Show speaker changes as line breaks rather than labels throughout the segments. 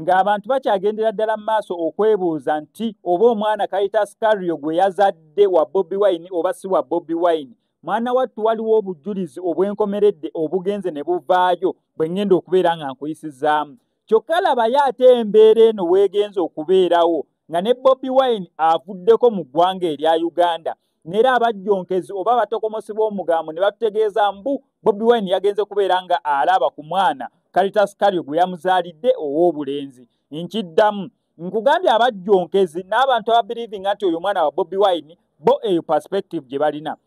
ng'abantu bakyagendera ddala mu maaso okwebuuza nti oba omwana kayita sikario gwe yazadde wa bobi wine oba si wa bobi wine mwana wattu waliwo obujjulizi obwenkomeredde obugenze ne buvaayo bwe ŋŋenda okubeera nga nkuyisizaamu kyokka labayo ate embeera eno weegenza okubeerawo nga ne bobi wine avuddeko mu ggwanga erya uganda neera abajjonkezi oba abatokomosebwa omugambo ne batutegeeza mbu bobi wine yagenze kubeera nga alaba ku mwana kalitasikario gwe yamuzaalidde ow'obulenzi nkiddamu nkugambye abajjonkezi n'abantu ababirivinga nti oyo omwana wa bobi wine bo eyo perspective gye balina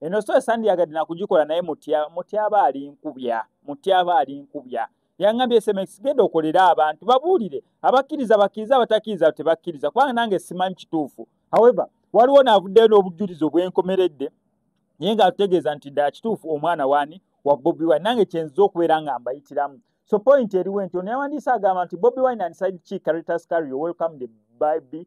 eno sitole sandiyagadde nakugikola naye mutya mutya aba ali nkubya mutya aba ali nkubya yaŋambye sms genda okolere abantu babuulire abakkiriza bakkiriza abatakkiriza tebakkiriza kubanga nange simanyi kituufu however waliwo naavuddeyo n'obujjulizi obwenkomeredde naye nga atutegeeza nti ddala kituufu omwana waani wa bobi wine nange kyenziza okubeera nga mbayitiramu so point eriwo nti ono yawandiisa agamba nti bobi wine and side chi caritas cario welcome the bible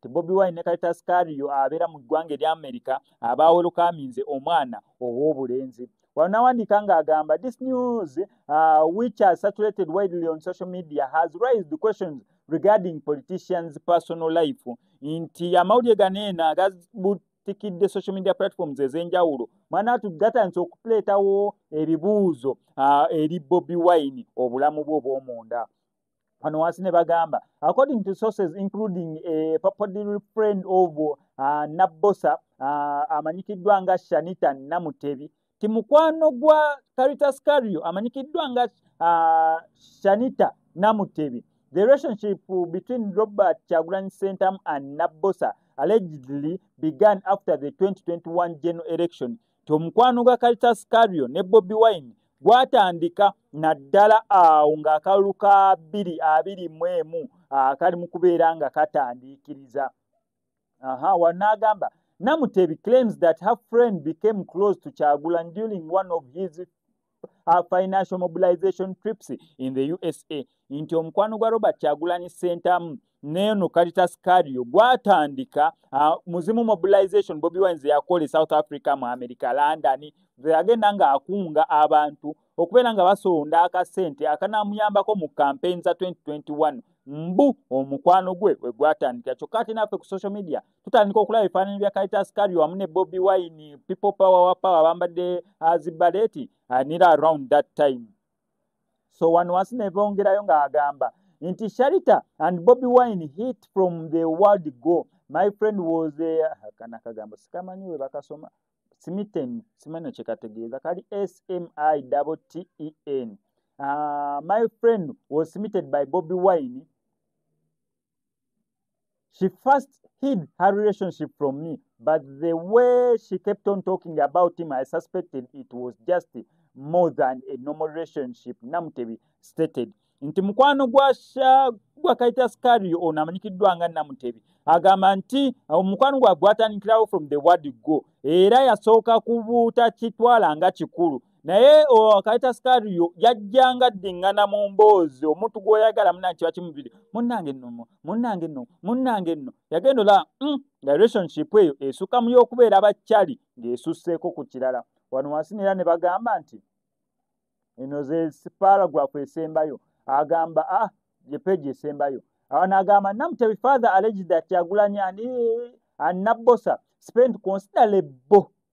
ti bobi wine ne kalitas kario abeera mu ggwanga erya amerika abaawolokaaminze omwana ow'obulenzi wano nawandiika ng'agamba this news uh, which has saturated widely on social media has raised the questions regarding politicians personal life nti amawulire ganeena tikidde social media platforms ez'enjawulo mwana tu gatandise okuleetawo ebibuuzo uh, eri bobi wine obulamu bwe obw'omunda wano wansi ne bagamba according to sources including a eh, popular friend of uh, nabbosa uh, amanyikiddwa nga shanita namutebi ti mukwano gwa caritas cario amanyikiddwa nga uh, shanita namutebi the relationship between robert chagulanyi centam and nabbosa allegedly began after the 2021 general election nti omukwano gwa Kalitas Cario ne Bobi Wine gwatandika naddala awo ng'akalulu ka bbiri abiri mu emu akali mu kubeera nga katandiikiriza aha wanaagamba Namutebi claims that her friend became close to Kyagulanyi during one of his her financial mobilization trips in the usa nti omukwano gwa robert kyagulanyi sentamu neeno caritas cario gwatandika uh, muzimu mobilization bobi wines yakola e south africa mu america london agenda nga akunga abantu okubeera nga basonda akasente akanamuyambako mu campaign za 2021 mbu omukwano gwe wegwatandikira kyokka ate naffe ku social media tutandika okulaba ebifaananyi bya kaitas kari wamu ne bobi wine people power wa power bambadde uh, zibaleti uh, nira around that time so wano wansi nebongerayo ng'agamba nti sharita and bobi wine hit from the world go my friend was ah, kana kagambo sikamanyi we bakasoma smiten simanyo kyekategeeza kali smi ten uh, ah, my friend was smitten by bobi wine She first hid her relationship from me, but the way she kept on talking about him, I suspected it was just more than a normal relationship, Namutebi stated. Nti mukwano gwa sha gwa kaita skari ona manyikiddwa nga Namutebi agamba nti omukwano gwa gwatandikirawo from the word go era yasooka kubuuta kitwala nga kikulu naye kayita sikariyo yajjanga ddiŋŋana mu mboozi omuntu gw'oyagala munange kiba kimubiri munnange nno munnange nno munnange nno yagenda ola mm, nga relationship eyo esuka mu y'okubeera bakyali ng'esusseeko ku kirala wano wansi neera ne bagamba nti eno ze paragrafu esembayo agamba a ah, ye peegi esembayo awo naagamba namutebi father alleged that kyagulanyi ani anabbosa spent considerable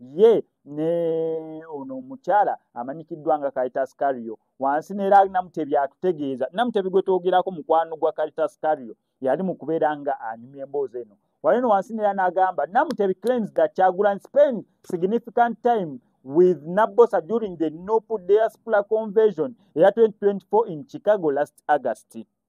ye ne ono omukyala amanyikiddwa nga caritas cario wansi neera namutebi atutegeeza namutebi gwe twogerako mukwano gwa caritas cario yali mu kubeera nga anyumya emboozi eno walino wansi neera n'agamba namutebi claims that kyagulan spend significant time with nabosa during the nopu diaspora conversion eya 2024 in chicago last august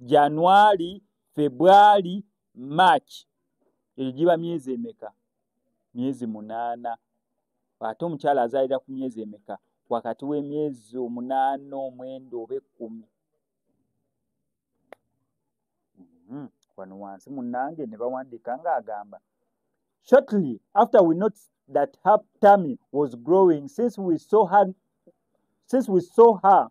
january february march eyo giba myezi emeka myezi munaana ate omukyala azaalira ku myezi emeka wakati w'emyezi omunaana omwenda oba ekkumi hmm, wano wansi munange ne bawandiika ng'agamba shortly after we noticed that her tummy was growing since we saw her since we saw her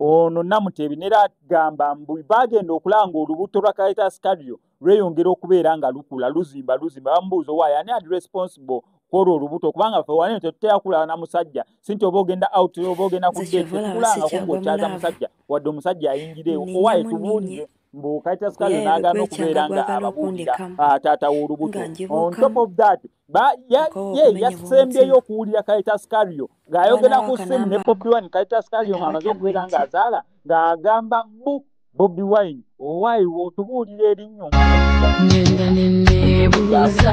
ono namutebi nera agamba mbu bagenda okulanga olubuto lwa kaitas kario lweyongera okubeera nga lukula luzimba luzimba bamubuuza owaye ani ali responsible kwolwo olubuto kubanga fe wali tetutera kulaba na musajja si nti oba ogenda out oba ogenda kuddekulanga kuba okyaza musajja wadde omusajja ayingireewo owaye tubuulire mbu kayita sikazi nagaana okubeera nga ababuulira ah, taata w'olubuto on top of that ye yasembyeyo okuwulira kayita sikario ng'ayogera ku simu ne bobi wine kayita sikario ng'amaze okubeera ng'azaala ng'agamba mbu bobi wine owaayi wotubuulira erinnyo ngenda
neneebuuza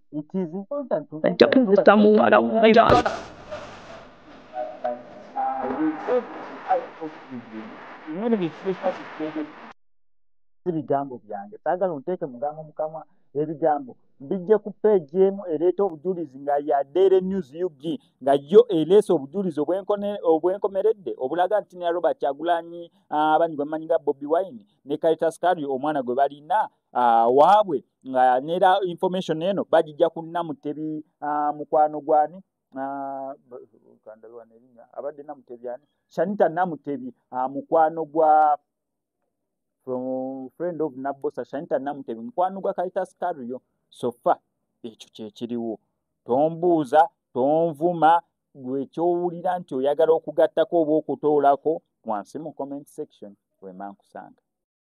ajja kunzisa muwala wayala ebigambo byange saagala onteeke mugambo mukamwa ebigambo bijje ku peegi emu ereeta obujulizi nga ya daily news ug nga yo ereesa obujulizi obwenkomeredde obulaga nti ne robert kyagulanyi abanyi gwe mumanyi nga bobi wine ne karitas kari omwana gwe balina uh, waabwe nga nera information eno bagijja kunna mutebi uh, mukwano gwani abadde namutebi ani shanita namutebi uh, mukwano gwa from friend of nabosa shanita namutebi mukwano gwa kalitas kario sofa ekyo kyekiriwo tombuuza tonvuma gwe kyowulira nti oyagala okugattako oba okutoolako wansi mu comment section wemankusanga